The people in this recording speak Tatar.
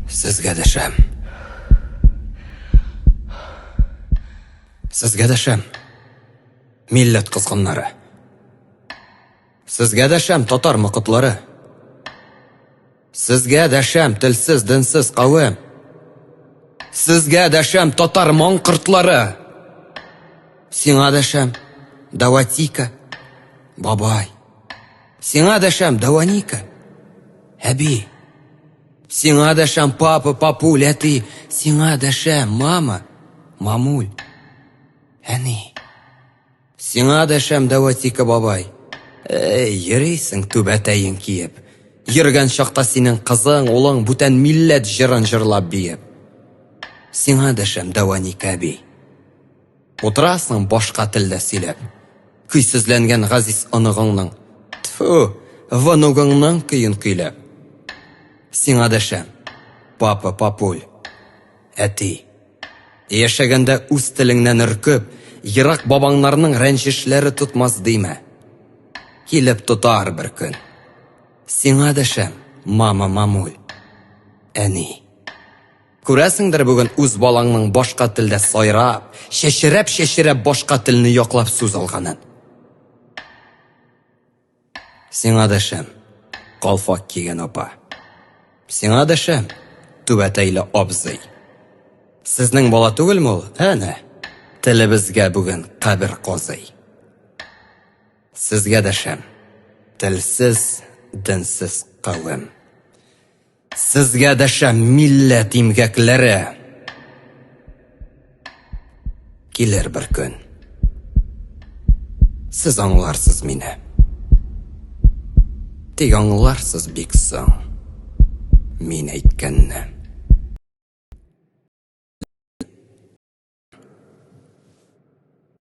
Сезгә дәшәм. Сезгә дәшәм. Милләт кызгыннары. Сезгә дәшәм, татар мыкытлары. Сезгә дәшәм, телсез, динсез кавем. Сезгә дәшәм, татар моңкыртлары. Сиңа дәшәм, даватика, бабай. Сиңа дәшәм, Даваника. Әби. Сиңа дәшәм, папа, папуль, әти. Сиңа дәшәм, мама, мамуль. Әни. Сиңа дәшәм, Даватика бабай. Эй, йөрисең түбәтәен киеп. Йөргән чакта синең кызың, улың бүтән милләт җырын җырлап биеп. Сиңа дәшәм, Даваника әби. Утырасың башка телдә сөйләп. Көйсезләнгән газиз оныгыңның, тфү, внугыңның көен көйләп. Сиңа дәшәм, папа, папуль, әти. Яшәгәндә үз телеңнән өркеп, ерак бабаңнарның рәнҗешләре тотмас димә. Килеп тотар бер көн. Сиңа дәшәм, мама, мамуль, әни. Күрәсеңдер, бүген үз балаңның башка телдә сайрап, чәчрәп-чәчрәп башка телне яклап сүз алганын. Сиңа дәшәм, калфак кигән апа. Сиңа дәшәм, түбәтәйле абзый. Сезнең бала түгелме ул? Әнә, телебезгә бүген кабер казый. Сезгә дәшәм, телсез, денсез кавем. Сезгә дәшә милләт имгәкләре! Килер бер көн. Сез аңларсыз мине. Тик аңларсыз бик соң. Мин әйткәнне.